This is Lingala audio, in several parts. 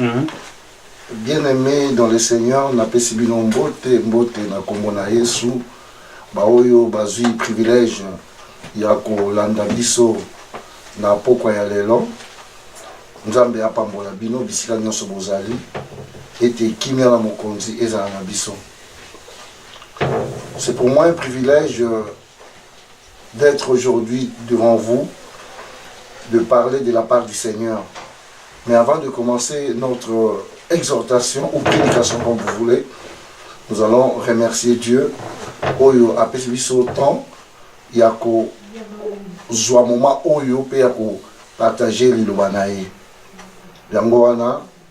Mhm. bien aime dans le seigneur napesi bino mbote mbote na nkombo na yesu baoyo bazwi privilège ya kolanda biso na pokwa ya lelo nzambe apambola bino bisika nyonso bozali ete kimia na mokonzi ezala na biso c'est pour moi un privilège d'etre aujourd'hui devant vous, de parler de la part du Seigneur. Mais avant de commencer notre exhortation ou prédication comme vous voulez, nous allons remercier Dieu. Oyo a apesi biso temps ya kozwa moment oyo mpe ya kopartage liloba na ye. Yango wana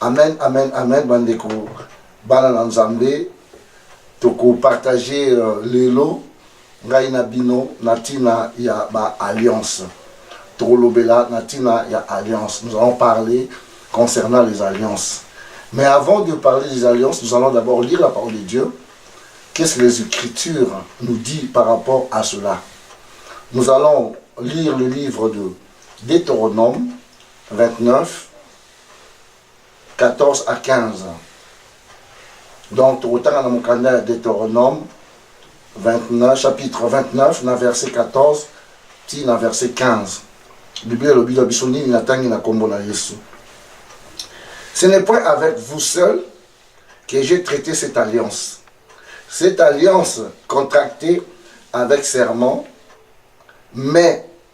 Amen, amen, amen, bandeko, bana na Nzambe, toko partager euh, lelo ngai na bino na tina ya ba alliance. Tokolobela na tina ya alliance. Nous allons parler concernant les alliances. Mais avant de parler des alliances, nous allons d'abord lire la parole de Dieu. Qu'est-ce que les Écritures nous dit par rapport à cela Nous allons lire le livre de Deutéronome 29, 14 à 15 donc tokotanga na mokanda ya deuteronome 29 chapitre 29 na verset 14 ti na verset 15 biblia elobi na biso nini natangi na nkombo na yesu ce n'est point avec vous seul que j'ai traité cette alliance cette alliance contractée avec serment mais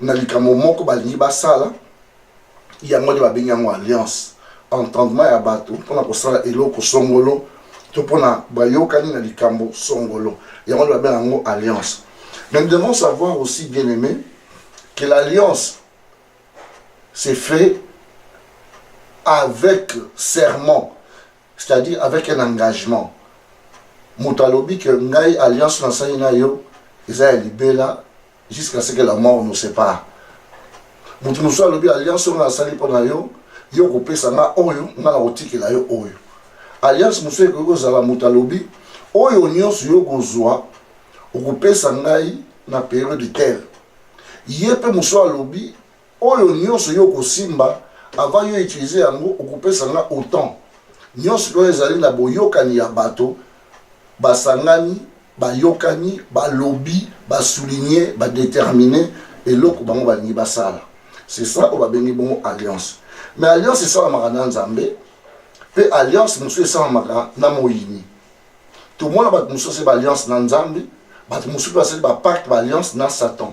na likambo moko balingi basala yango nde babengi yango alliance entendement ya bato mpona kosala eloko songolo to mpona bayokani na likambo songolo yango nde babenga yango alliance mais nous devons savoir aussi bien aimé que l'alliance c'est fait avec serment c'est-à-dire avec un engagement moto alobi ke ngai alliance nasali na yo eza ya libela Jusqu'à ce que la mort nous sépare. Mutu mosusu alobi alliance oyo asali mpo na yo, yo kopesa nga oyo, nga na kotikela yo oyo. Alliance mosusu ekoki kozala moto alobi oyo nyonso yo kozwa okopesa ngai na periode tel. Ye mpe mosusu alobi Oyo nioso yo okosimba avant yo utilise yango okopesa nga autant nioso loin ezali na boyokani ya bato basangani bayokani balobi ba souligne ba determine eloko bango balingi basala c'est ça oyo babengi bongo alliance mais alliance esalamaka na nzambe pe alliance mosusu esalamaka na moyini tomona bato mosusu asali ba alliance na nzambe bato mosusu basali ba pacte ba alliance na satan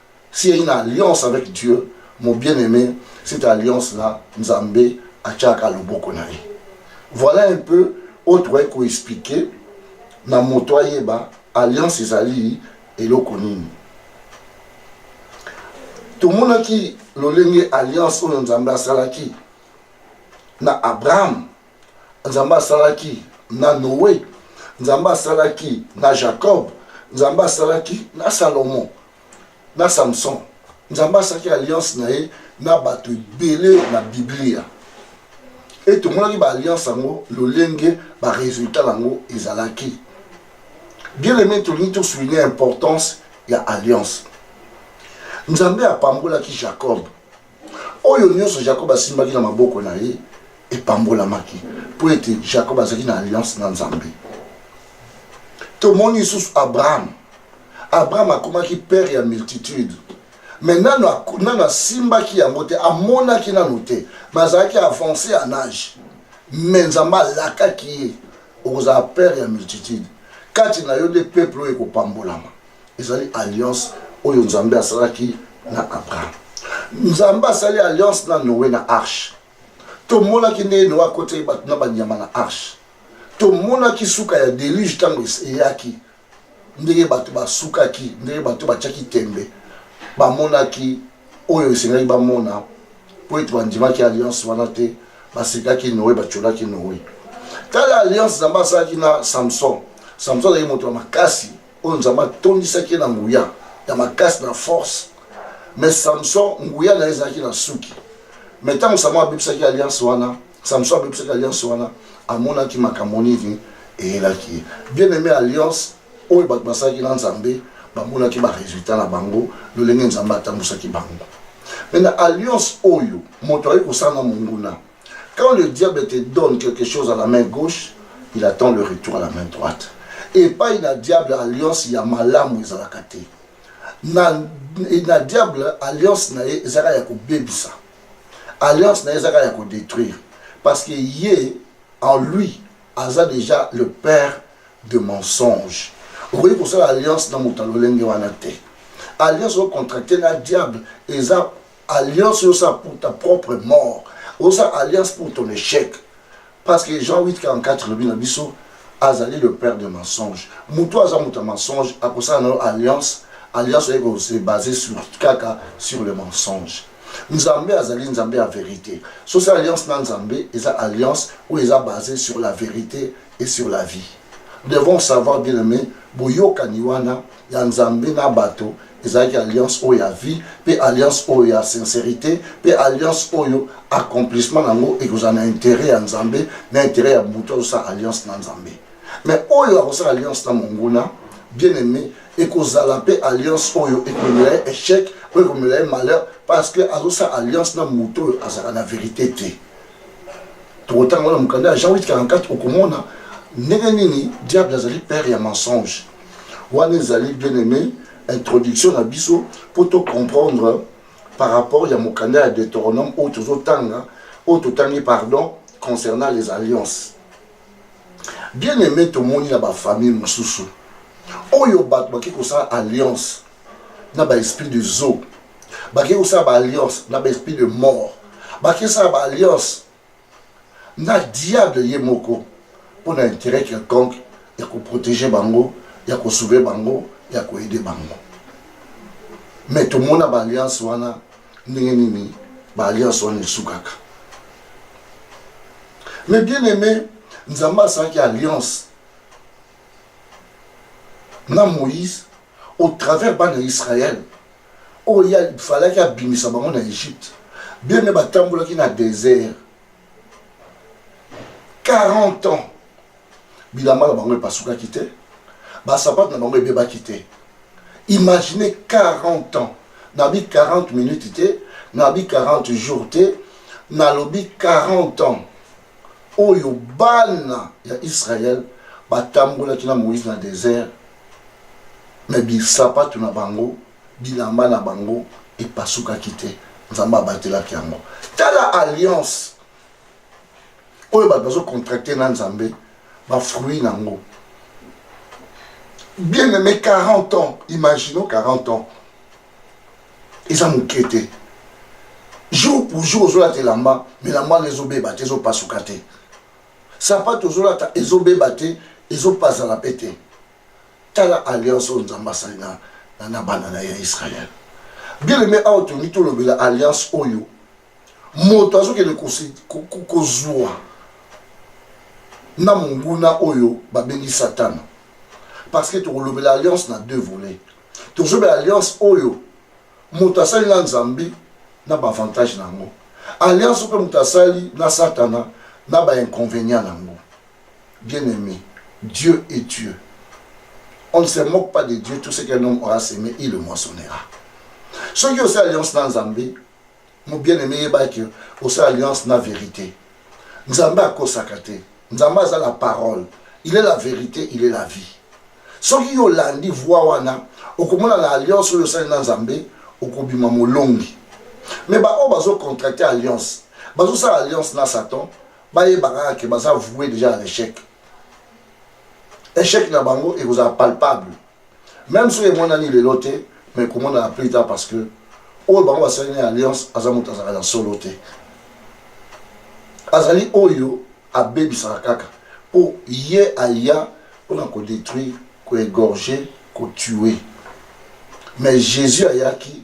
Si ya une alliance avec Dieu, mon bien-aimé, cette alliance-là, Nzambe atiaka loboko na ye. Voilà un peu oyo tokoki koexplike na moto ayeba alliance ezali eloko nini. Tomonaki lolenge alliance oyo Nzambe asalaki na Abraham nzambe asalaki na noe nzambe asalaki na jacob nzambe asalaki na salomon na samson nzambe asalaki alliance na ye na bato ebele na biblia e tomonaki baalliance yango lolenge baresultat na yango ezalaki bien aimé tolingi tosouligne importance ya alliance nzambe apambolaki jacob Oyo nyonso Jakob asimbaki na maboko na ye epambolamaki mpo ete Jakob azalaki na alliance na Nzambe. Tomoni lisusu Abraham. Abraham akomaki père ya multitude me nano nano asimbaki yango te amonaki nano te me azalaki avance ya nage me nzambe alakaki ye okozala père ya multitude kati na yo nde peuple oyo ekopambolama ezali alliance oyo nzambe asalaki na abraham nzambe asali alliance na noe na arche tomonaki ndenge noe akotaki bato na banyama na arche tomonaki suka ya deluge ntango eyaki ndenge bato basukaki ndenge bato batyaki tembe bamonaki oyo esengaki bamona mpo ete bandimaki alliance wana te basekaki noe batyolaki noe tala alliance nzambe asalaki na samson samson azalaki moto ya makasi oyo Nzambe atondisaki ye na nguya ya makasi na force. Me Samson nguya na ye ezalaki na suki. Me ntango Samson abebisaki alliance wana, Samson abebisaki alliance wana, amonaki makambo nini eyelaki ye. Bien aime alliance oyo bato basalaki na Nzambe bamonaki ba resultat na bango, lolenge Nzambe atambusaki bango. Me na alliance oyo moto akoki kosala na monguna, Quand le diable te donne quelque chose à la main gauche, il attend le retour à la main droite. Et pas il a diable alliance ya malamu ezalaka te. Na, na diable alliance na ye ezalaka ya kobebisa. Alliance na ye ezalaka ya kodétruire. Parce que ye, en lui, aza déjà le père de mensonge. okoki kosala alliance na moto ya lolenge wana te alliance oyo contracte na diable eza Alliance osa pour ta propre mort. Osa alliance pour ton échec. Parce que Jean 8, 44, le na biso, azali le père de mensonge. Mutu aza mutu mensonge, akosala na alliance, alliance eko se baser sur kaka sur le mensonge. Nzambe azali Nzambe ya vérité. So c'est alliance na Nzambe, eza alliance ou eza basée sur la vérité et sur la vie. Nous devons savoir bien aimé, boyokani wana ya Nzambe na bato ezalaki alliance oyo ya vie mpe alliance oyo ya sincerite mpe alliance oyo accomplissement na yango ekozala na interet ya Nzambe na interet ya moto azosala alliance na Nzambe mais oyo akosala alliance na monguna bien aimé ekozala mpe alliance oyo ekomela ye échec oyo ekomela ye malheur parce que azosala alliance na moto oyo azalaka na verité te tokotanga wana mokanda ya jean 844 okomona ndenge nini diable azali père ya mensonge Wana ezali bien aimé introduction na biso mpo to comprendre par rapport ya mokanda ya Deuteronome oyo tozotanga oyo totangi pardon concernant les alliances bien aimé tomoni na bafamille mosusu oyo bato bake kosala alliance na baesprit de zo bake kosala baalliance na baesprit de mort bake kosala baalliance na diable ye moko mpo na interet quelconque ya koprotege bango ya kosove bango ya koede bango me tomona baalliance wana ndenge nini baalliance wana esukaka me bien aime nzambe asalaki alliance na moïse au travers bana israel Oyo ya falaki abimisa bango na Egypte. Bien ne batambolaki na desert 40 ans. Bilamba na bango epasukaki te. Basapato na bango ebebaki te. Imaginez 40 ans. Nabi 40 minutes te, nabi 40 jours te, nalobi 40 ans. oyo bana ya Israël batambolaki na Moïse na desert, mais bisapato na bango, bilamba na bango epasukaki te. Nzambe abatelaki yango. Tala alliance oyo bato bazo contracte na Nzambe, ba fruits na yango. Bien aimé 40 ans, imaginons 40 ans. eza moke te jour pour jour ozolata elamba me elamba wana ezobeba te ezopasuka te sapato ozolata ezobeba te ezopazana mpe te tala alliance oyo nzambe asali na, na, na bana na ya israele bien aime awa tolingi tolobela alliance oyo moto azokende kozwa na monguna oyo babengi satana parce que tokolobela alliance na deux volets tozobela alliance oyo moto asali na nzambe na baavantage na yango alliance oyo mpe moto asali na satana na bainconvénient na yango bien aimé dieu et dieu on ne se moque pas de dieu tout ce qu'un homme aura semé il le moissonnera soki osali alliance na nzambe Mon bien-aimé yeba que osala alliance na vérité. Nzambe akosaka te. Nzambe aza la parole. Il est la vérité, il est la vie. Soki yo olandi voix wana, okomona na alliance oyo osali na Nzambe, okobima molongi. Mais ba oyo bazo contracter alliance, bazo sala alliance na Satan, bayeba kaka que baza vouer déjà à l'échec. Échec na bango ekozala palpable. Meme soki emonani lelo te, mais komonana plus tard parce que oyo bango basali na alliance aza moto azalaka na solo te. Azali oyo abebisaka kaka mpo ye aya mpona kodétruire, koegorger, kotue. Mais Jésus ayaki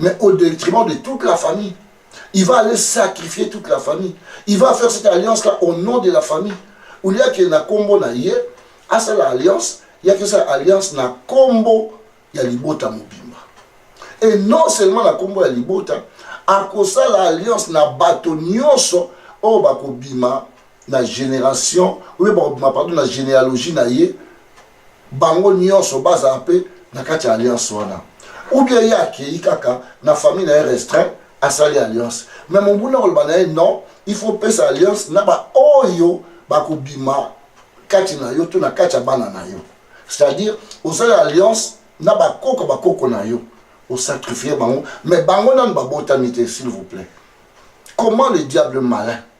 mais au détriment de toute la famille. Il va aller sacrifier toute la famille. Il va faire cette alliance-là au nom de la famille. Au lieu que na combo na ye, à ça l'alliance, il y a que ça alliance na combo ya libota mobimba. Et non seulement na combo ya libota, à cause ça l'alliance na bato nyonso oyo oh, bakobima na génération oyo bakobima pardon na généalogie na ye bango nionso bazala pe na kati ya alliance wana ou bien ye akeyi kaka na famille na ye restreint asali alliance mais mobulu akoloba na ye non il faut pesa alliance na baoyo bakobima kati na yo to na kati ya bana na yo c'est-à-dire osali alliance na bakoko bakoko na yo osacrifie bango mais bango nanu babotami te s'il vous plaît comment le diable malin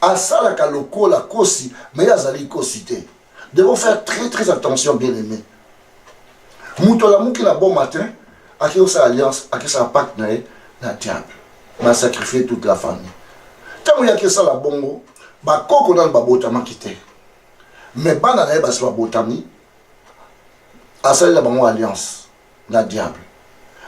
asalaka lokola kosi mais azali kosi te devons faire très très attention bien aimé moto alamuki na bon matin akei kosala alliance akesala pacte na ye na diable na sacrifie toute la famille ntango ye akesala bongo bakoko nano babotamaki te mais bana na ye basi babotami asalela bango alliance na diable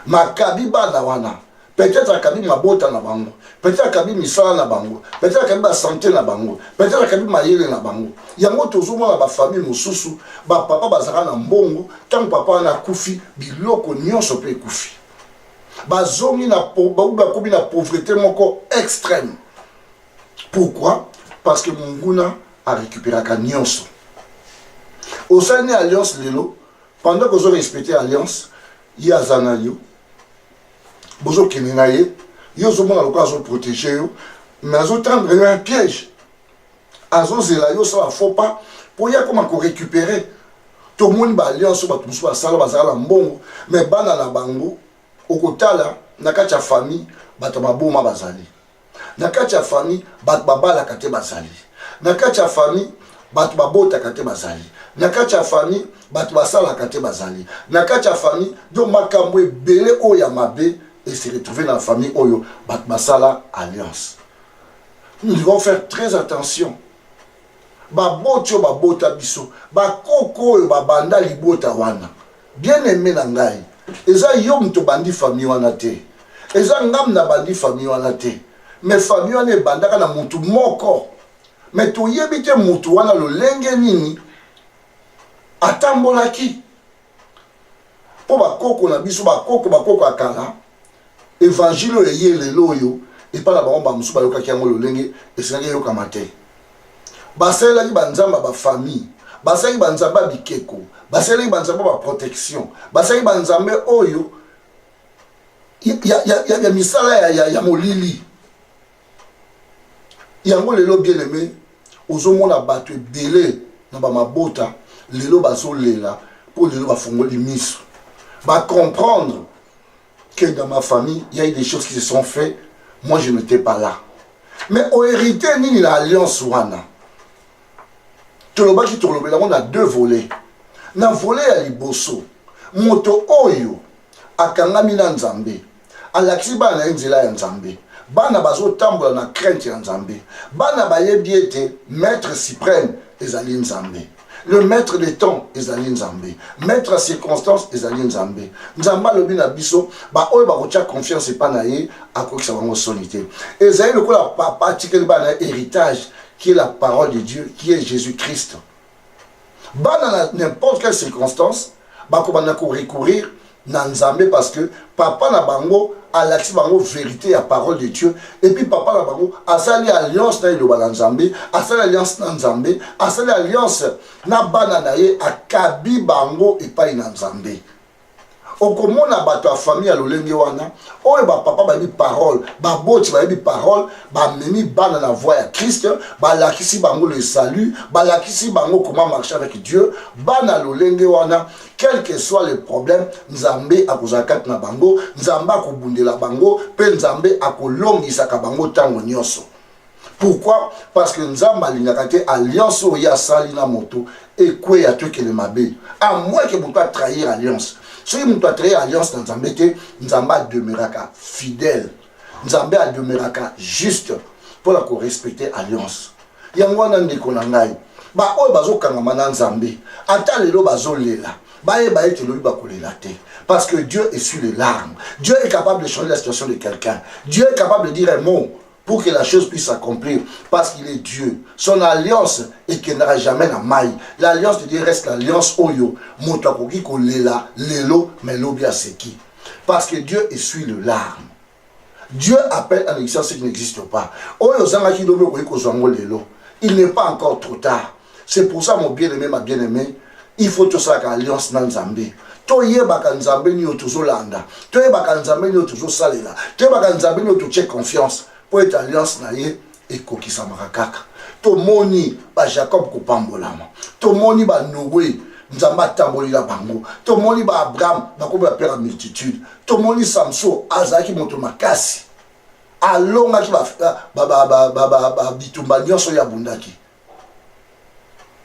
makabi bana wana peut-être akabi mabota na bango peut-être akabi misala na bango peut-être akabi basante na bango peut-être akabi mayele na bango yango tozomona bafamille mosusu bapapa bazalaka na mbongo ntango papa wana akufi biloko nyonso mpe ekufi bazongi na bakomi na pauvrete moko extrême pourquoi parce que monguna arécupéraka nyonso osali ni alliance lelo Pendant que ozo respecter alliance, ye aza na yo. Bozo kende na ye, yo ozo mona lokola azo protéger yo, mais azo tendre yo un piège. Azo zela yo sala faux pas pour ye akoma ko récupérer. Tomoni ba alliance bato mosusu basala bazala na mbongo, mais bana na bango okotala na kati ya famille bato baboma bazali. na kati ya famille bato babalaka te bazali na kati ya famille bato babotaka te bazali na kati ya famille bato basalaka te bazali na kati ya famille do makambo ebele oyo ya mabe ese retrouve na famille oyo bato basala alliance nous devons faire très attention baboti oyo babota biso bakoko oyo babanda libota wana Bien aime na ngai eza yo mutu obandi famille wana te eza nga mutu nabandi famille wana te mais famille wana ebandaka na mutu moko mais toyebi te mutu wana lolenge nini atambolaki mpo bakoko na biso bakoko bakoko ya kala Evangile oyo eye lelo oyo epai na bango bamosusu bayokaki yango lolenge esengaki eyokama te. Basalelaki banzambe ya bafamille, basalaki banzambe ya bikeko, basalelaki banzambe ya baprotection, basalaki banzambe oyo ya, ya, ya, ya, ya misala ya, ya, ya molili. Yango lelo bien aime, ozomona bato ebele na bamabota lelo bazolela mpo lelo bafungoli miso bacomprendre que dans ma famille, il y a eu des choses qui se sont faites. Moi, je n'étais pas là. Mais au hérité, ni l'alliance wana. tolobaki tolobela yango na deux volet na volet ya liboso moto oyo akangami na nzambe alakisi bana na ye nzela ya nzambe bana bazotambola na crainte ya nzambe bana bayebi ete maître suprême ezali nzambe le maître de temps ezali nzambe maître ya circonstance ezali nzambe nzambe alobi na biso baoyo bakotya confiance epa na ye akokisa bango soni te ezali lokola papa atikeli bana ya héritage qui est la parole de dieu qui est jésus christ bana na n'importe quelle circonstance bakobanda ko recourir na nzambe parce que papa na bango alakisi bango verité ya parole de dieu epuis papa na bango asali alliance na eloba na nzambe asali alliance na nzambe asali alliance na bana na ye akabi bango epai na nzambe okomona bato ya famille ya lolenge wana oyo bapapa bayebi parole baboti bayebi parole bamemi bana na voie ya krist balakisi bango le salut balakisi bango comment marche avec dieu bana lolenge wana quelque soit le problème nzambe akozala kati na bango nzambe akobundela bango mpe nzambe akolongisaka bango ntango nyonso pourquoi parce que nzambe alingaka te alliance oyo ye asali na moto ekweya to ekele mabe a moins ke moto atrahir alliance soki moto atrahir alliance na nzambe te nzambe ademeuraka fidèle nzambe ademeraka juste mpo na korespecte alliance yango wana ndeko na ngai baoyo bazokangama na nzambe ata lelo bazolela bayeba ete lobi bakolela te parce que dieu essuie les larmes dieu est capable de changer la situation de quelqu'un dieu est capable de dire un mot pour que la chose puisse s'accomplir, parce qu'il est Dieu. Son alliance et qu'il n'aura jamais la maille. L'alliance de Dieu reste l'alliance Oyo, Motakoki Kolela, Lelo, mais Lobia Seki. Parce que Dieu essuie le larme. Dieu appelle à l'existence ce qui n'existe pas. Oyo ozangaki lobi okoki kozwa yango lelo. Il n'est pas encore trop tard. C'est pour ça mon bien-aimé, ma bien-aimée, il faut tosalaka alliance na Nzambe. toyebaka nzambe nini oyo tozolanda toyebaka nzambe nini oyo tozosalela toyebaka nzambe nini oyo totie confiance mpo ete alliance na ye ekokisamaka kaka tomoni bajacob kopambolama tomoni banoe nzambe atambolela bango tomoni baabraham bakomi bapera multitude tomoni samson azalaki moto makasi alongaki bitumba nyonso oyo abundaki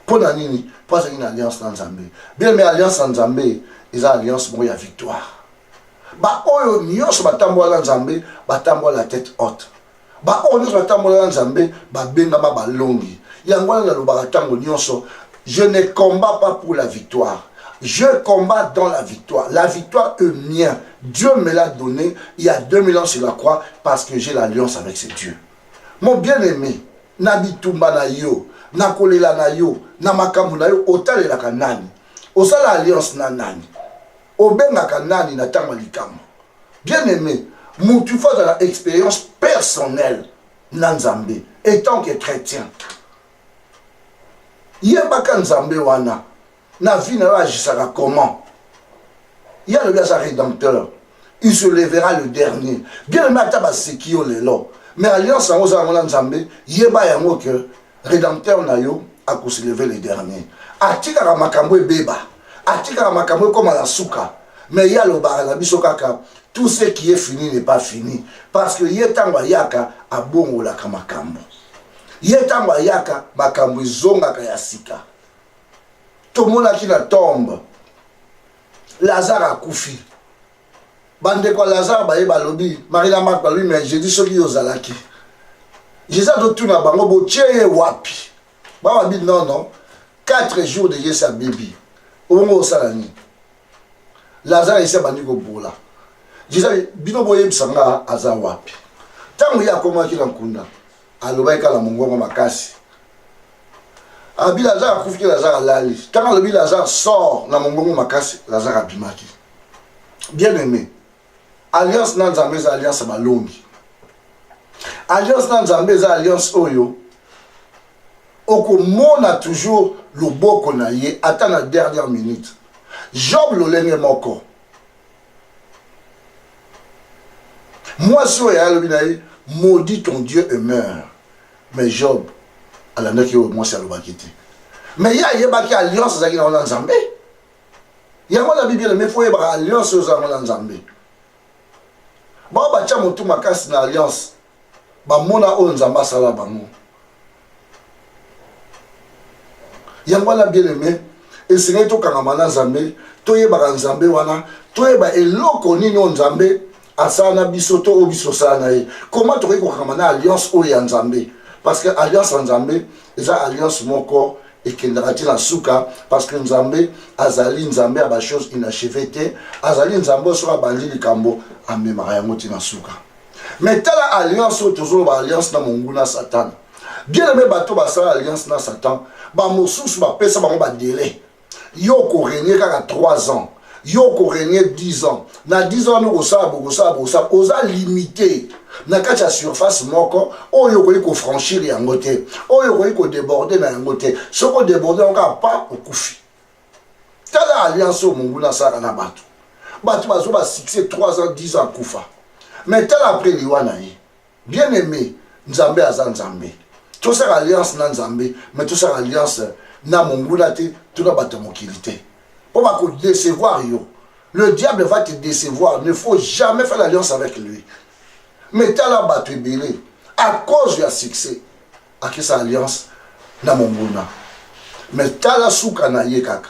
mpo na nini mpo azalaki na alliance na nzambe bien me alliance na nzambe eza alliance moko ya victoire baoyo nyonso batambola na nzambe batambola la tete haute baoyo nyonso batambola na nzambe babengama balongi yango wana nalobaka ntango nyonso je ne combat pas pour la victoire je combat dans la victoire la victoire est mien dieu me l'a donné il y a 2000 ans sur la croix parce que j'ai l'alliance avec ce dieu mon bien aimé na bitumba na yo na kolela na yo na makambo na yo otalelaka nani osala alliance na nani Obengaka nani na tango ya likambo? Bien aime, mutu il faut azala experience personnelle na Nzambe etant que chretien. Yebaka Nzambe wana na vie na yo agisaka comment? Ye alobi aza rédempteur. Il se levera le dernier. Bien aime ata baseki yo lelo. Mais alliance yango oza yango na Nzambe, yeba yango que Redempteur na yo ako se lever le dernier. Atikaka makambo ebeba, atikaka makambo ekoma na suka. Mais ye alobaka na biso kaka tout ce qui est fini n'est pas fini parce que ye ntango ayaka abongolaka makambo. Ye ntango ayaka makambo ezongaka ya sika. Tomonaki na tombe Lazare akufi. bandeko ya lazare baye balobi marie na mark balobi mais jeudi soki yo ozalaki jesus azotuna bango botie ye wapi bababi nono 4 jours de yesu abebi obongo osala nini lazare esi abandi kobola jesus bino boyebisa nga aza wapi ntango ye akomaki na nkunda alobaki kala mongongo makasi abi lazare akufiki lazare alali ntango alobi lazare sor na mongongo makasi lazare abimaki bien aimé alliance na nzambe eza alliance ya balongi alliance na nzambe eza alliance oyo okomona toujours loboko na ye ata na dernière minute job lolenge moko mwasi oyo ayalobi na ye maudit ton dieu et meurt mais job alandaki oyo mwasi alobaki te mais ye ayebaki alliance ezalaki na wana nzambe yango nabi bien mais fo oyebaka alliance oza yango na nzambe bao batya motu makasi na alliance bamona oyo nzambe asala bango yango wana bien aime esengeli tokangama na nzambe toyebaka nzambe wana toyeba eloko nini oyo nzambe asala na biso to oyo biso osala na ye koma tokoki kokangama na alliance oyo ya nzambe parce que alliance ya nzambe eza alliance moko ekendaka ti na suka parce que nzambe azali nzambe ya bachose inacheve te azali nzambe oyo soki abandi likambo amemaka yango ti na suka mais tala alliance oyo tozoloba alliance na monguna satana bien aime bato basala alliance na satan bamosusu bapesa bango badelai yo okorenie kaka 3 ans yo oko regne 10 ans na 10 ans wana okosala bokosala bokosala oza limite na kati ya surface moko oyo okoki kofranchir yango te oyo okoki kodeborde na yango te soki odeborde yango kaka pa okufi tala alliance oyo monguna asalaka na bato bato bazwa basuccès 3 ans 10 ans akufa mais tala apres liwa na ye Bien aime, Nzambe aza Nzambe. Tosala alliance na Nzambe, mais tosala alliance na monguna te, to na bato ya mokili te. Mpo bako décevoir yo. Le diable va te décevoir. Ne faut jamais faire l'alliance avec lui. Mais tala bato ebele à cause ya succès. akisa alliance na monguna me tala suka na ye kaka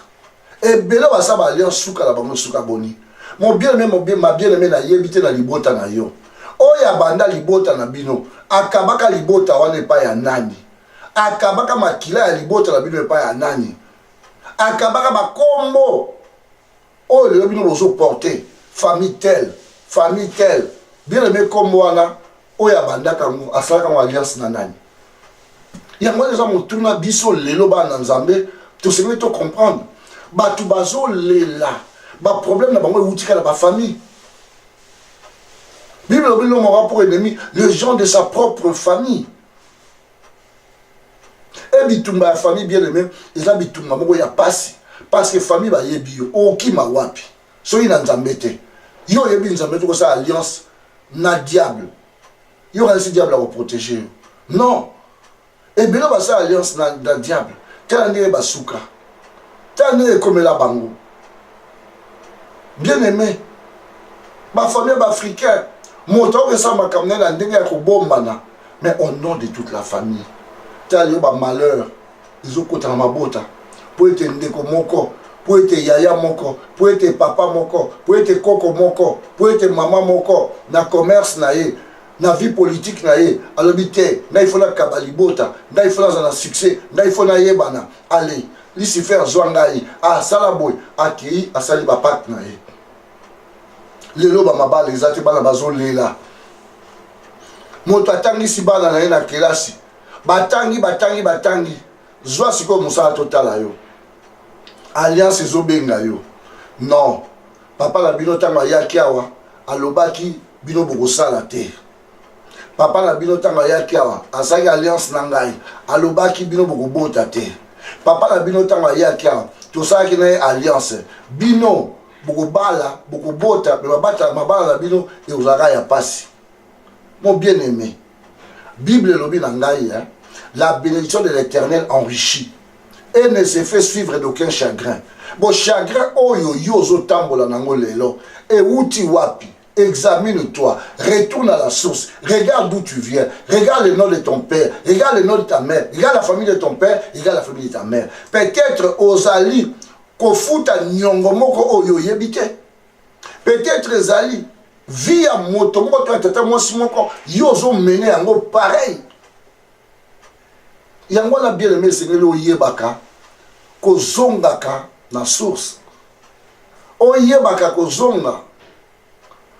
ebele baza ba alliance suka na bango suka boni mobieneme mabieneme nayebi te na libota na yo oyo abanda libota na bino akabaka libota wana epai ya nani akabaka makila ya libota na bino epai ya nani akabaka bakombo oyo lelo bino bozo porte famille tel famille tel bien aime nkombo wana oyo abandaka yango asalaka yango alliance na nani yango wana eza motuna biso lelo bana na nzambe tosengeli to comprendre bato bazolela baproblème na bango ewutika na bafamille bible elobi lomaka pour ennemi le gens de sa propre famille e bitumba ya famille bien aime eza bitumba moko ya pasi parce que famille bayebi yo okima wapi soki na nzambe te yo oyebi nzambe te kosala alliance na diable yo kanisi diable akoprotege yo non ebele basala alliance na, na diable tala ndenge basuka tala ndenge ekomela bango bien aimé bafamille baafricain moto akokesala makambo na ye na ndenge ya kobombana mais au nom de toute la famille tala lelo bamalheur ezokota na mabota mpo ete ndeko moko mpo ete yaya moko mpo ete papa moko mpo ete koko moko mpo ete mama moko na commerce na ye na vie politique na ye alobi te ngai fo nakaba libota ngai fo nazala na succès ngai fo nayebana ale lucifer zwa ngai asala ah, boye akei asali bapate na ye lelo bamabala eza te bana bazolela moto atangisi bana na ye na kelasi batangi batangi batangi zwa sikoyo mosala totala yo alliance ezobenga yo non papa na bino ntango ayaki awa alobaki bino bokosala te papa na bino ntango ayaki awa azalaki alliance na ngai alobaki bino bokobota te papa na bino ntango ayaki awa tosalaki na ye alliance bino bokobala bokobota me babata mabala na bino ekozalaka ya mpasi mo bien aimé bible elobi na ngai eh? la bénédiction de l'éternel enrichit et ne se fait suivre d'aucun chagrin bo chagrin oyo yo ozotambola nango lelo ewuti wapi Examine-toi, retourne à la source, regarde d'où tu viens, regarde le nom de ton père, regarde le nom de ta mère, regarde la famille de ton père, regarde la famille de ta mère. Peut-être ozali kofuta nyongo moko oyo oyebi te. Peut-être ezali vie ya moto moko to ya tata mwasi moko yo ozomene yango pareil yango wana bien aime esengeli oyebaka kozongaka na source oyebaka kozonga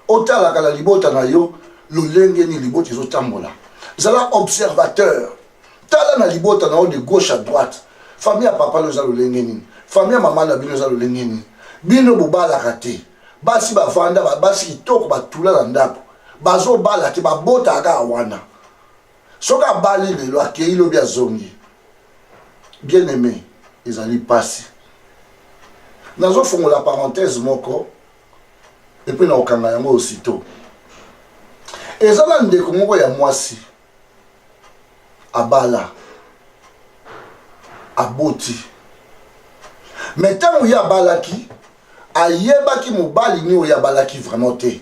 otalaka na libota na yo lolenge nini libota ezotambola zala observateur tala na libota na yo de gauche à droite famille ya papa no eza lolenge nini famille ya mama na bino eza lolenge nini bino bobalaka te basi bavanda basi kitoko batula na ndako bazobala te babotaka wana soki abali lelo akei lobi azongi bien aimé ezali mpasi nazofungola parenthèse moko epuis na kokanga yango aussitôt eza na ndeko moko ya mwasi abala aboti me ntango ye abalaki ayebaki mobali nini oyo abalaki vraiment te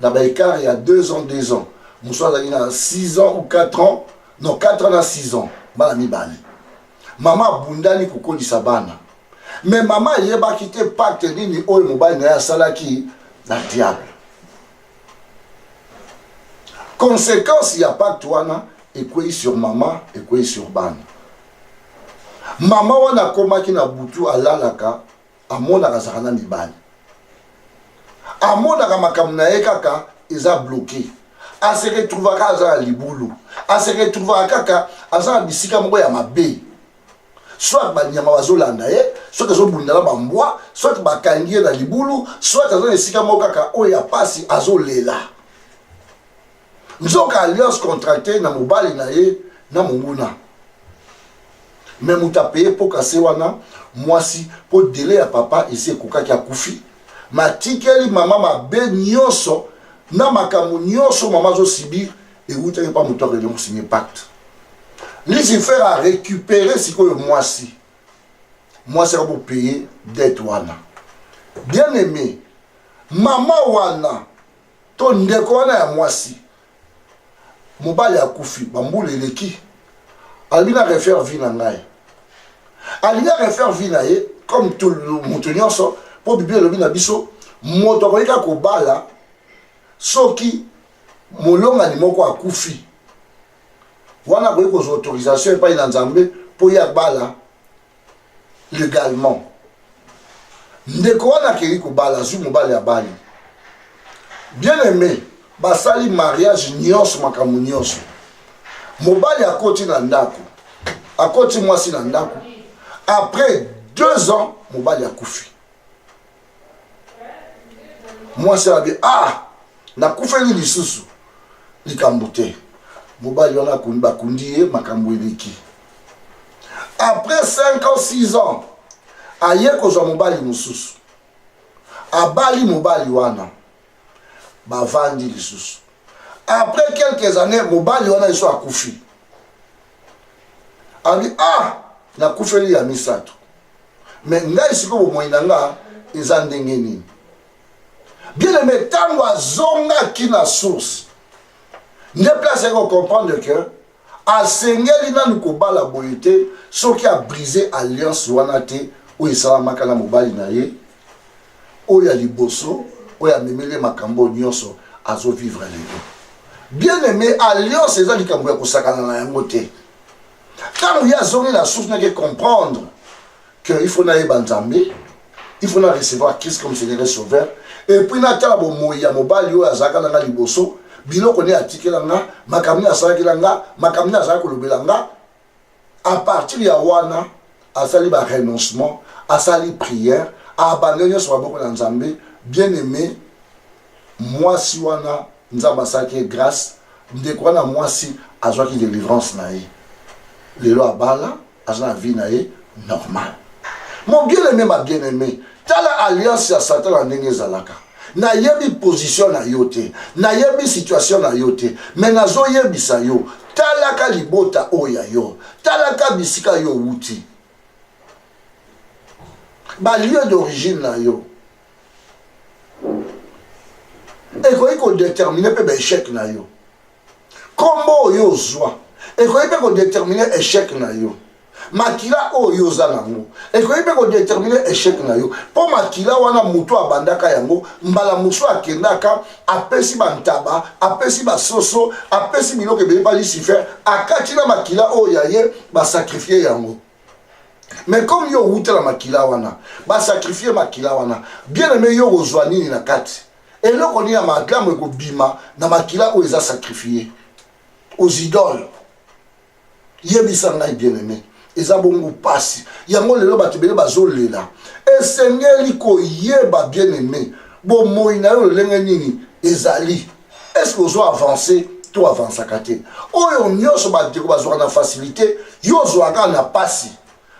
na ba ecart ya 2 ans 2 ans mosusu azalaki na 6 ans ou 4 ans non 4 ans na 6 ans bana mibale mama abundani kokolisa bana me mama ayebaki te pacte nini oyo mobali na ye asalaki na diable conséquence ya pacte wana ekwei sur mama ekwei sur bana mama wana akomaki na butu alalaka amonaka azalaka na mibali amonaka makambo na ye kaka eza bloke ase retrouva kaka aza na libulu ase retrouvaka kaka aza na bisika moko ya mabe soit banyama bazolanda ye soit azobunda na bambwa soit bakangi ye na libulu soit aza na esika moko kaka oyo ya mpasi azolela nzoka alliance contracte na mobali na ye na monguna me moto apeye mpo kase wana mwasi mpo dele ya papa esi ekokaki akufi matikeli mama mabe nyonso na makambo nyonso mama azosibir ewutaki mpa moto akende kosigne pacte lucifer a récupéré sikoyo mwasi mwasi akobopeye dete wana bien aimé mama wana to ndeko wana ya mwasi mobali akufi bambula eleki alobi na refaire vie na ngai alingi arefaire vie na ye comme moto nyonso mpo biblia elobi na biso moto akoki kaka kobala soki molongani moko akufi wana akoki kozwa autorisation epai na nzambe mpo ye abala legalement ndeko wana akei kobala azwi mobali ya bali bien aime basali mariage nyonso makambo nyonso mobali akoti na ndako akoti mwasi na ndako après deux ans mobali akufi mwasi abi ah nakufeli lisusu likambo te mobali wana akundi bakundi ye makambo eleki après 5 ans 6 ans aye kozwa mobali mosusu abali mobali wana bavandi lisusu après quelques années mobali wana lisusu akufi alobi ah nakufeli ya misato me ngai sikoyo bomoi na nga eza ndenge nini bien aime ntango azongaki na source nde place yaki kocomprendre que asengeli nanu kobala boye te soki abrise alliance wana te oyo esalamaka na mobali na ye oyo ya liboso oyo amemeli ye makambo oyo nyonso azovivre lelo bien aime alliance eza likambo ya kosakana na yango te ntango ye azongi na source nake comprendre que il faut nayeba nzambe il faut na recevoir christ comme seigneur et sauveur et puis natala bomoi ya mobali oyo azalaka na nga liboso biloko nde atikela nga makambo nde asalakela nga makambo nde azalaki kolobela nga à partir ya wana asali ba renoncement asali prière abandon nyonso maboko na nzambe bien aimé mwasi wana nzambe asalaki ye grâce ndeko wana mwasi azwaki délivrance na ye lelo abala aza na vie na ye normal mon bien aimé ma bien aimé tala alliance ya satan na ndenge ezalaka nayebi position na yo te nayebi situation na yo te me nazoyebisa yo talaka libota oyo ya yo talaka bisika yo owuti balieu d'origine na yo ekoki kodetermine mpe baechec na yo nkombo oyo ozwa ekoki mpe kodetermine echec na yo makila oyo oza nango ekoki mpe kodetermine echec na yo mpo makila wana moto abandaka yango mbala mosusu akendaka apesi bantaba apesi basoso apesi biloko ebele mpa lucifer akati na makila oyo ya ye basakrifie yango mais comme yo owuta na makila wana basakrifie makila wana bien aime yo okozwa nini na kati eloko nini ya malamu ekobima na makila oyo eza sakrifie aux idoles yebisa ngai bien aime eza bongo mpasi yango lelo bato ebele bazolela esengeli koyeba bien aime bomoi na yo lolenge nini ezali eske ozo avance to avansaka te oyo nyonso bandeko bazwaka na facilité yo ozwaka na mpasi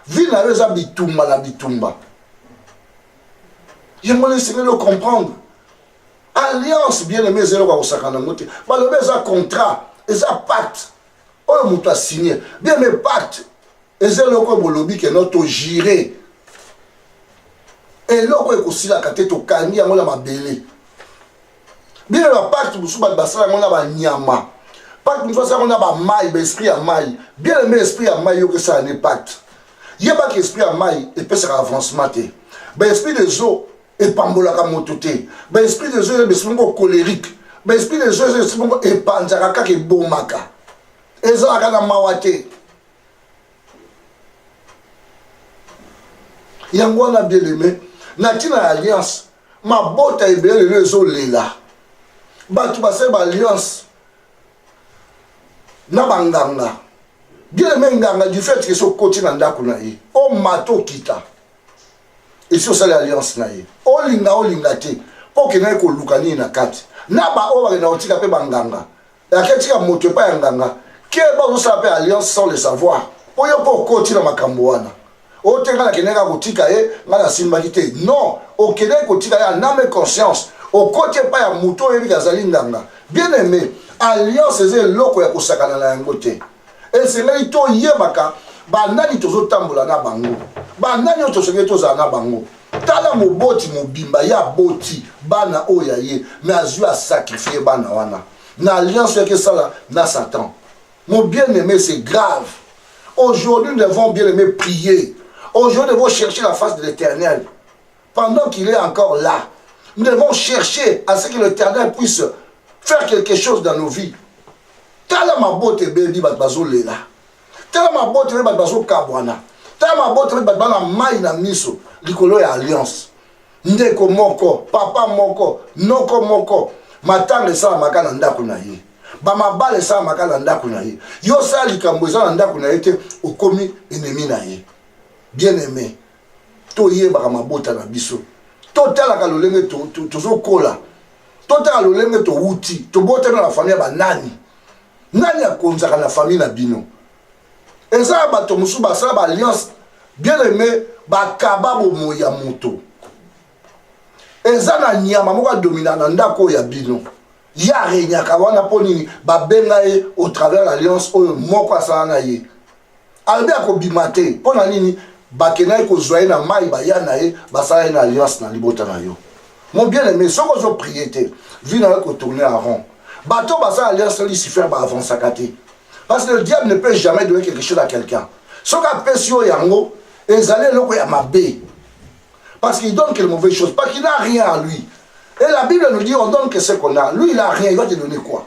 vi na yo eza bitumba na bitumba yango wana esengeli ocomprendre alliance bien aime eza eloko ya kosakana yango te balobi eza contrat eza pacte oyo moto asigne bien aime pacte eza eloko oyo bolobi keno togire eloko ekosilaka te tokangi yango na mabele bino na pacte mosusu bato basala yango na banyama pacte mosusu asala yango na bamai baesprit ya mai bien aime esprit ya mai yoka esala nde pacte yebaka esprit ya mai epesaka avancement te baesprit des eaux epambolaka moto te baesprit des eaux eza baesprit moko colérique baesprit des eaux eza esprit moko epanzaka kaka ebomaka ezalaka na mawa te yango wana bien aime na ntina ya alliance mabota ebele lelo ezolela bato basali baalliance na banganga bieleme nganga du fait ke so okoti na ndako na ye omata okita esi osali alliance na ye olinga olinga te mpo okendaki koluka nini na kati na baoyo bakenda kotika mpe banganga Yake tika moto epai ya nganga keba ozosala mpe alliance sans le savoir mpo yo mpe okoti na makambo wana oyo te ngai nakendaki akotika ye ngai nasimbaki te non okendaki kotika ye aname conscience okoti epai ya moto oyebiki azali nganga bien aime alliance eza eloko ya kosakana na yango te esengeli toyebaka banani tozotambola na bango banani oyo tosengeli tozala na bango tala moboti mobimba ye aboti bana oyo ya ye me azwi asakrifie bana wana na alliance yaki esala na satan mon bien aimé c'est grave aujourd'hui nous devons bien aimé prier aujourd'hui nous devons chercher la face de l'éternel pendant qu'il est encore là nous devons chercher à ce que l'éternel puisse faire quelque chose dans nos vies tala mabota ebebi bato bazolela tala mabota nde bato bazokabwana tala mabota nde bato bana mai na miso likolo ya alliance ndeko moko papa moko noko moko matanga esalamaka na ndako na ye bamabala esalamaka na ndako na ye yo osala likambo eza na ndako na ye te okomi enemi na ye bien aime toyebaka mabota na biso totalaka lolenge tozokola totala lolenge towuti tobotami na bafamille ya banani nani akonzaka na famille na bino eza ya bato mosusu basala baalliance bien aime bakaba bomoi ya moto eza na nyama moko adomina na ndako oyo ya bino ye aregnaka wana mpo nini babenga ye au travers alliance oyo moko asala na ye alobi akobima te mpo na nini bakendaki kozwa ye na mai baya na ye basala ye na alliance na libota na yo mon bien aimé soki ozoprie te vie na yo ekotourne en rond bato basala alliance na lucifer baavansaka te parce que le diable ne peut jamais donner quelque chose à quelqu'un soki apesi yo yango ezali eloko ya mabe parce qu'il donne que de mauvaises choses parce qu'il n'a rien à lui et la bible nous dit on donne que ce qu'on a lui il a rien il va te donner quoi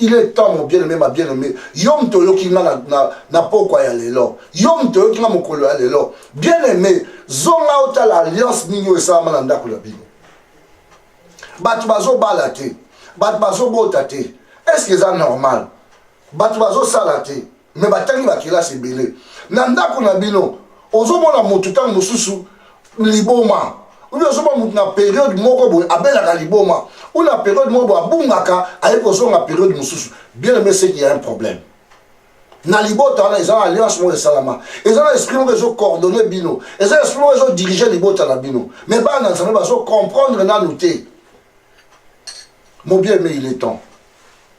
il est temps mon bien aimé ma bien aimé yo moto oyoki nga na, na, na pokwa ya lelo yo moto oyoki nga mokolo ya lelo bien aimé zonga otala alliance nini oyo esalama na ndako na bino bato bazobala te bato bazobota te estce eza normal bato bazosala te me batangi bakelasi ebele na ndako na bino ozomona motu ntango mosusu liboma uni ozomona motu na periode moko boye abelaka liboma u na periode moko boye abungaka aye kozonga periode mosusu bien aime seki ya un problème na libota wana eza na alliance moko esalama eza na esprit moko ezo coordonne bino eza esprit moko ezo dirige libota na bino me bana na nzambe bazo comprendre nanu te mobie me il est temps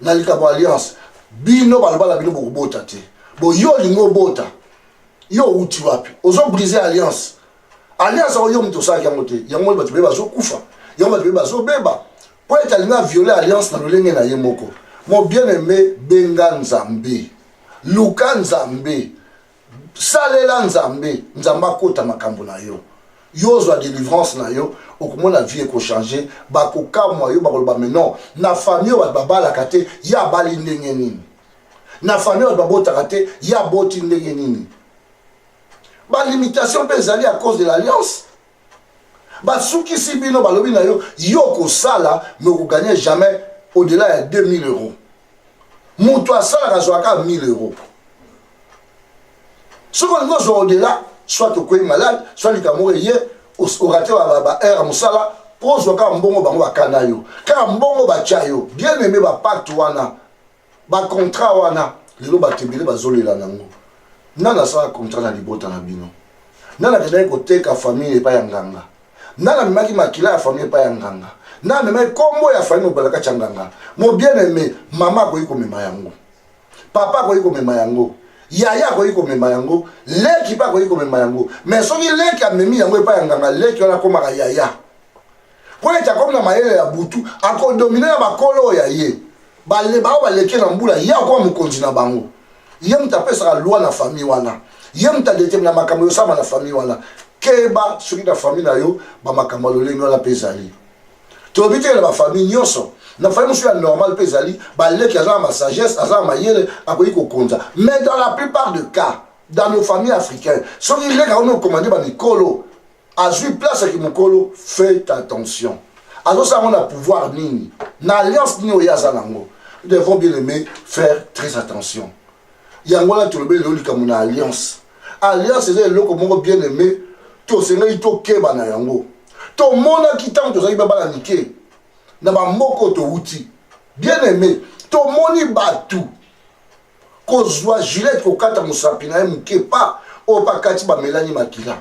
na likambo ya alliance bino balobala bino bokobota te bo yo olingi obota yo outi wapi ozo brise alliance alliance yango yo moto osalaki yango te yango bato bebe bazokufa yango bato bebe bazobeba mpo ete alingi aviole alliance na lolenge na ye moko mon bien aime benga nzambe luka nzambe salela nzambe nzambe akota makambo na yo yo ozwa délivrance na yo okomona vie ekochange bakokamwa yo bakoloba me non na famille oyo bato babalaka te ye abali ndenge nini na famille bato babotaka te ye aboti ndenge nini balimitation mpe ezali à cause de l'alliance basukisi bino balobi na yo yo okosala me okoganye jamais au-delà ya 2000 euros moto asalaka azwaka 1000 euro soki olingi ozwa odela soit okwei malade soit likambo moko eye orate baheure ya mosala mpo ozwa kaka mbongo bango bakanda yo kaka mbongo batya yo bien aime bapacte wana bacontrat wana lelo bato ebele bazolela nango nani asala contrat na libota na bino nani akendaki koteka famille epai ya nganga nani amemaki makila ya famille epai ya nganga nani amemaki nkombo ya famille mobala kati ya nganga mobiene aime mama akoki komema yango papa akoki komema yango yaya akoki komema yango leki mpe akoki komema yango me soki leki amemi yango epai ya nganga leki wana akomaka yaya mpo ete akomi na mayele ya butu akodomine na bakolo oyo ya ye bale bao baleke na mbula ye akoma mokonzi na bango ye moto apesaka loi na famille wana ye moto adetermina makambo yosama na famille wana keba soki na famille na yo bamakambo ya lolenge wana mpe ezali tolobi te na bafamille nyonso na famille mosusu ya normal mpe ezali baleki aza na masagesse aza na mayele akoki kokonza mais dans la plupart de cas dans nos familles africaines soki leki akomi okomande bamikolo azwi place ya kimokolo fait attention azosala yango na pouvoir nini na alliance nini oyo ye aza nango devons bien aimé faire très attention yango wana tolobi lelo likambo na alliance alliance eza eloko moko bien aimé tosengeli tokeba na yango tomonaki ntango tozalaki babala mike na bamboka oyo towuti bien aimé tomoni bato kozwa gilete kokata mosapi na ye moke pa oyo pakati bamelani makila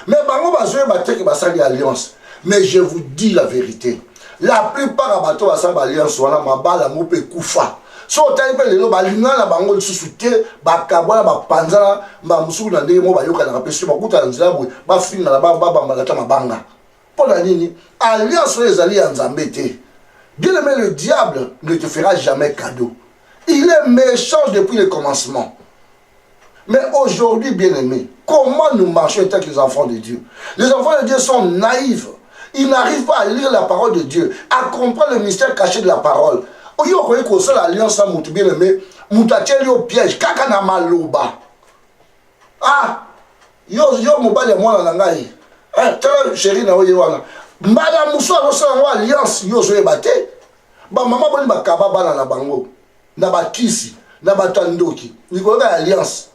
mais bango bazoyeba te ke basali alliance mais je vous dis la vérité la plupart ya bato basala baalliance wana mabala yango mpe ekufa so otali mpe lelo balingana na bango lisusu te bakabwana bapanzana mbala mosusu na ndenge moko bayokanaka mpe soki bakutana nzela boye bafingana babambana ata mabanga mpo na nini alliance oyo ezali ya nzambe te bien aimé le diable ne te fera jamais cadeau il est méchant depuis le commencement Mais aujourd'hui, bien aimé, comment nous marchons étant que les enfants de Dieu Les enfants de Dieu sont naïfs. Ils n'arrivent pas à lire la parole de Dieu, à comprendre le mystère caché de la parole. oyo okoki kosala alliance ya moto bien aimé moto atyeli yo piège kaka na maloba ah yo yo mobali ya mwana na ngai eh, tala sheri na oye wana mbala mosusu akosala yango alliance yo ozoyeba te bamama boni bakaba bana na bango na bakisi na bato ya ndoki likolo kaka ya alliance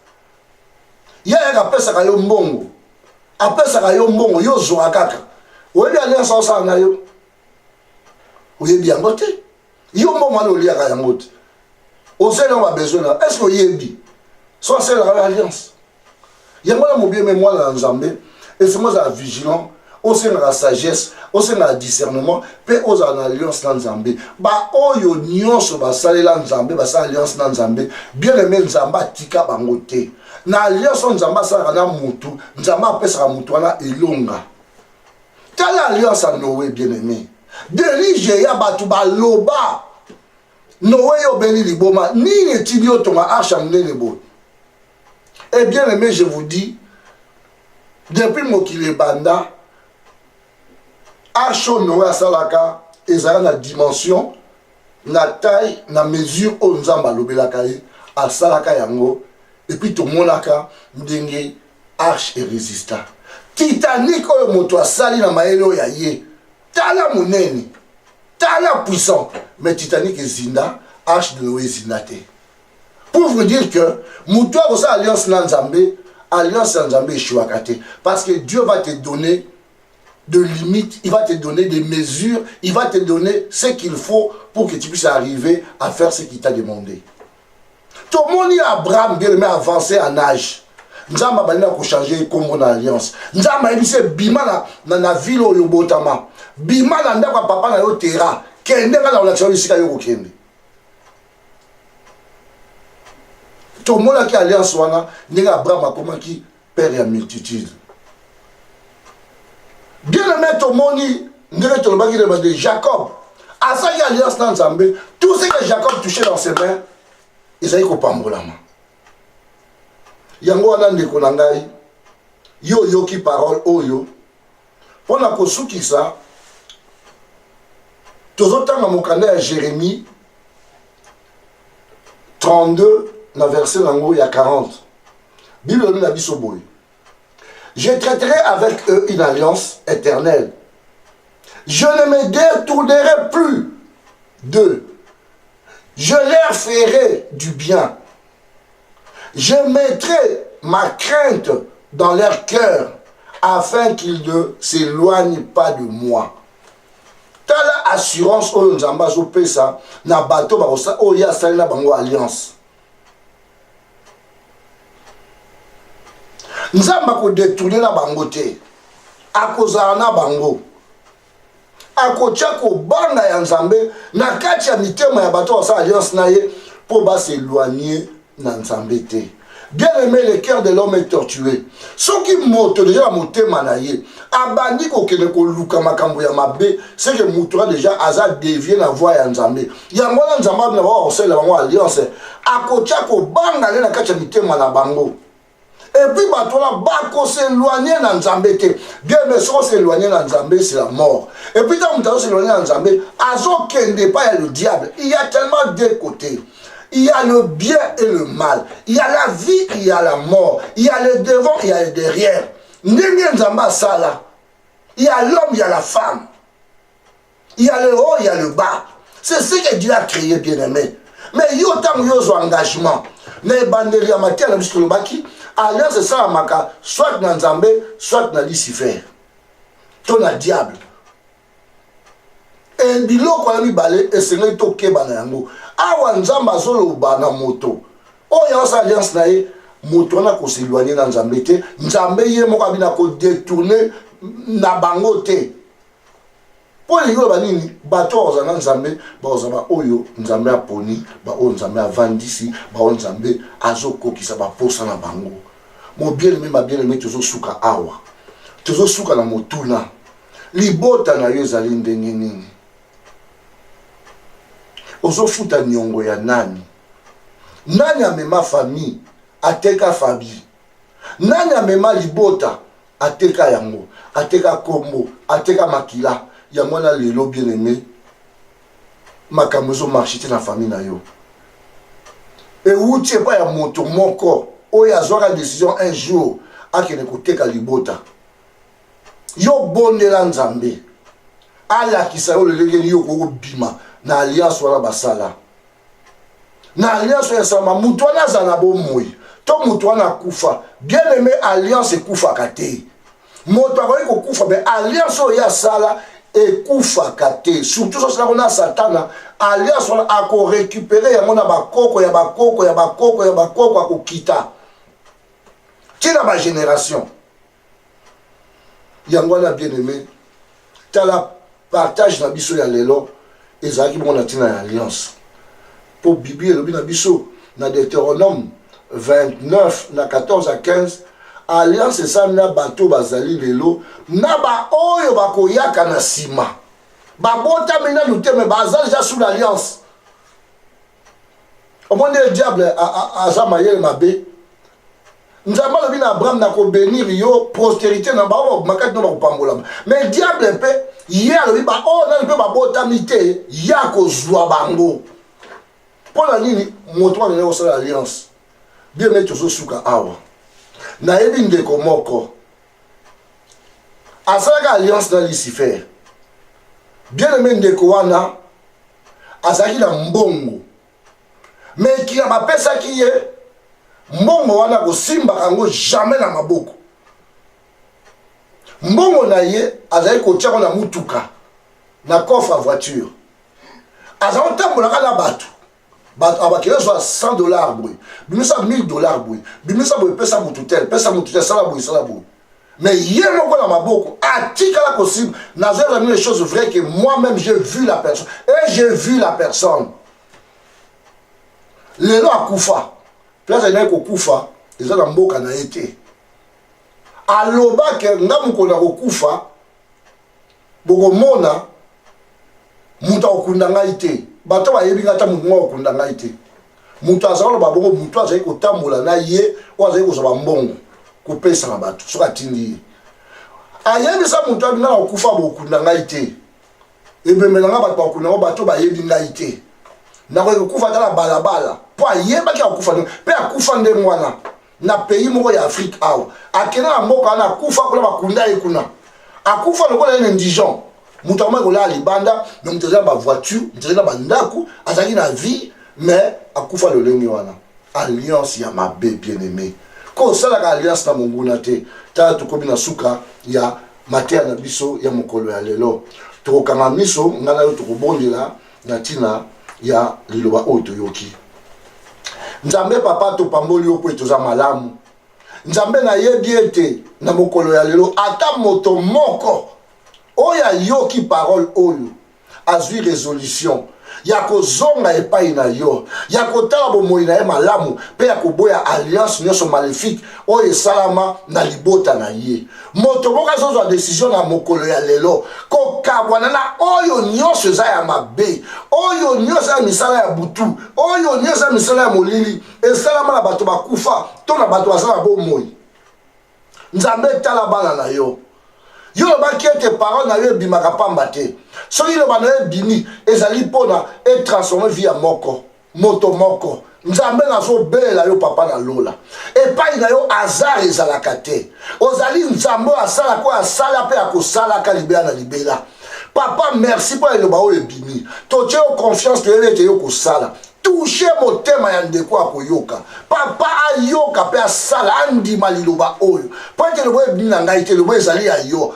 ye ayaka apesaka yo mbongo apesaka yo mbongo yo ozwaka kaka oyebi alliance aosala na yo oyebi yango te yo mbongo wana oliaka yango te ozeli yango babesoin na est ce que oyebi so asalelaka na alliance yango wana mobieme mwana na nzambe esengo ozala vigilant osengaka sagesse osengaka discernement mpe ozala na alliance na nzambe baoyo nyonso basalela nzambe basala alliance na nzambe bien aime nzambe atika bango te na alliance oyo nzambe asalaka na motu nzambe apesaka motu wana elonga tala alliance ya noe bien aime delige ya bato baloba noe yo obeli liboma nini etindi otonga arshe ya monene boye et bien aimé je vous dis depuis mokili ebanda arsho noe asalaka ezala na dimension na taille na mesure oyo nzambe alobelaka ye asalaka yango epuis tomonaka ndenge arche eresista titanique oyo moto asali na mayele oyo ya ye tala monene tala puissant mais titanique ezinda arche de noe ezinda te pour vous dire que moto akosala alliance na nzambe alliance ya nzambe eshuaka te parce que dieu va te donner de limites, il va te donner des mesures, il va te donner ce qu'il faut pour que tu puisses arriver à faire ce qu'il t'a demandé. Tout le monde, Abraham, bien aimé, avancé en âge. nzambe abandi na kochange nkombo na alliance nzambe ayebisi ye bima na, na, na vile oyo obotama bima na ndako ya papa na yo tera kende ngai na kolakisa yo esika yo kokende tomonaki alliance wana ndenge abraham akomaki père ya multitude bien aime tomoni ndenge tolobaki na bande jacob asaki alliance na nzambe tout ce que jacob touché dans ses mains ezali kopambolama yango wana ndeko na ngai yo oyoki parole oyo mpo na kosukisa tozotanga mokanda ya jeremie 32 na verset na yango ya 40 bible elobi na biso boye je traiterai avec eux une alliance éternelle je ne me détournerai plus d'eux je leur ferai du bien Je mettrai ma crainte dans leur cœur afin qu'ils ne s'éloignent pas de moi. tala assurance oyo nzambe azopesa na bato oyo ye asali na bango alliance nzambe akodetourne na bango te akozala na bango akotya kobanga ya nzambe na kati ya mitema ya bato basala alliance na ye mpo baseloigne na nzambe te bien aimé le cœur de l'homme est tortué soki moto deja na motema na ye abandi kokende koluka makambo ya mabe seke moto wana deja aza devie na voi ya nzambe yango wana nzambe abina baa kosalela bango alliance akotya kobanga nde na kati ya mitema na bango Et puis bato wana bako s'éloigner na nzambe te bien mais soki os'éloigner na nzambe c'est la mort et puis ntango moto azos'éloigner na nzambe azokende epai ya le diable il y a tellement deux côtés il y a le bien et le mal il y a la vie il y a la mort il y a le devant il y a le derrière ndenge nzambe asala il y a l'homme il y a la femme Il y a le haut, il y a le bas. C'est ce que Dieu a créé, bien-aimé. Mais yo ntango yo ozwa engagement na ebandeli ya mateya na biso tolobaki alliance esalamaka soit na nzambe soit na lucifer to na diable e biloko ya mibale esengeli tokeba na yango awa nzambe azoloba na moto oyo aosa alliance na ye moto wana koseloigne na nzambe te nzambe ye moko abina kodetourne na bango te Mpo elingi oloba nini? Bato oyo bakozala na Nzambe bakozala baoyo Nzambe aponi, baoyo Nzambe avandisi, baoyo Nzambe azokokisa baposa na bango. Mobieleme, ma bieleme, tozosuka awa, tozosuka na motuna, libota na yo ezali ndenge nini? Ozofuta niongo ya nani? Nani amema famille ateka fabi? Nani amema libota ateka yango ateka kombo ateka makila yango wana lelo bien aime makambo ezo marche te na famille na yo ewuti epai ya moto moko oyo azwaka decision un jour akende koteka libota yo bondela nzambe alakisa yo lolenge nini yo okoki kobima na alliance wana basala na alliance oyo esalama moto wana azala na bomoi to moto wana akufa bien aime alliance ekufaka te moto akoki kokufa me alliance oyo ye asala ekufaka te surtout sosilako na satana alliance wana akorekupere yango na bakoko ya bakoko ya bakoko ya bakoko akokita ti na bagénération yango wana bien aime tala partage na biso ya lelo ezalaki bongo na ntina ya alliance mpo biblia elobi na biso na deuteronome 29 na 14 à 15 alliance esali na bato bazali lelo na baoyo bakoyaka na nsima babotami nanu te me baza deja sous l'alliance omoni ndenge diable aza mayele mabe nzambe alobi na abraham nakobenir yo prosterité na bango makati no bakopambolama mais diable mpe ye alobi baoyo oh, nani mpe babotami te ye akozwa bango mpo na nini moto wana nde kosala alliance bie mei tozosuka awa nayebi ndeko moko asalaka alliance na lucifer bien aime ndeko wana azalaki na mbongo me ekila bapesaki ye mbongo wana kosimbaka yango jamais na maboko mbongo na ye azali kotyako na motuka na coffre ya voiture aza kotambolaka na bato bato abakeli azwa 100 dollar boye bimisa 1000 dollar boye bimisa boye pesa motu tel pesa motu tel sala boye sala boye mais ye moko na maboko atikala kosimba nazoyeba nini chose vrai que moi même j'ai vu la personne et j'ai vu la personne lelo akufa place alingaki kokufa eza na mboka na ye te alobake nga mokolo ya kokufa bokomona moto akokunda ngai te bato bayebi ngai ata moto moko akokunda ngai te moto azali koloba bongo moto azali kotambola na ye oyo azali kozwa bambongo kopesa na bato soki atindi ye ayebisa moto abi ngai nakokufa bokokunda ngai te ebembe na ngai bato bakokunda yango bato bayebi ngai te nakoki kokufa ata na balabala mpo ayebaki akokufa mpe akufa ndenge wana na pays moko ya afrique awa akenda na mboka wana akufa kuna bakunda ye kuna akufa lokola ye na indigen moto akomaki kolala libanda me moto azali na bavoiture moto azali na bandako azalaki na vie mais akufa lolenge wana alliance ya mabe bien aimé ko osalaka alliance na monguna te tala tokomi na suka ya mateya na biso ya mokolo ya lelo tokokanga miso ngai na yo tokobondela na ntina ya liloba oyo toyoki nzambe papa topamboli yo mpo ete oza malamu nzambe nayebi ete na mokolo ya lelo ata moto moko oyo ayoki parole oyo azwi resolution ya kozonga epai na yo ya kotala bomoi na ye malamu mpe ya koboya alliance nyonso maléfique oyo esalama na libota na ye moto moko azozwa desizio na mokolo ya lelo kokabwana na oyo nyonso eza ya mabe oyo nyonso ya misala ya butu oyo nyonso ya misala ya molili esalama na bato bakufa to na bato baza na bomoi nzambe etala bana na yo yo olobaki ete parole na yo ebimaka mpamba te soki loba na yo ebimi ezali mpona etransforme vi ya moko moto moko nzambe nazobelela yo papa na lola epai na yo azar ezalaka te ozali nzambe oyo asalaka oyo asala mpe akosalaka libela na libela papa merci mpo eloba oyo ebimi totye yo confiance toyebi ete yo kosala touche motema ya ndeko akoyoka papa ayoka mpe asala andima liloba oyo mpo ete eloba ebimi na ngai te eloba ezali ya yo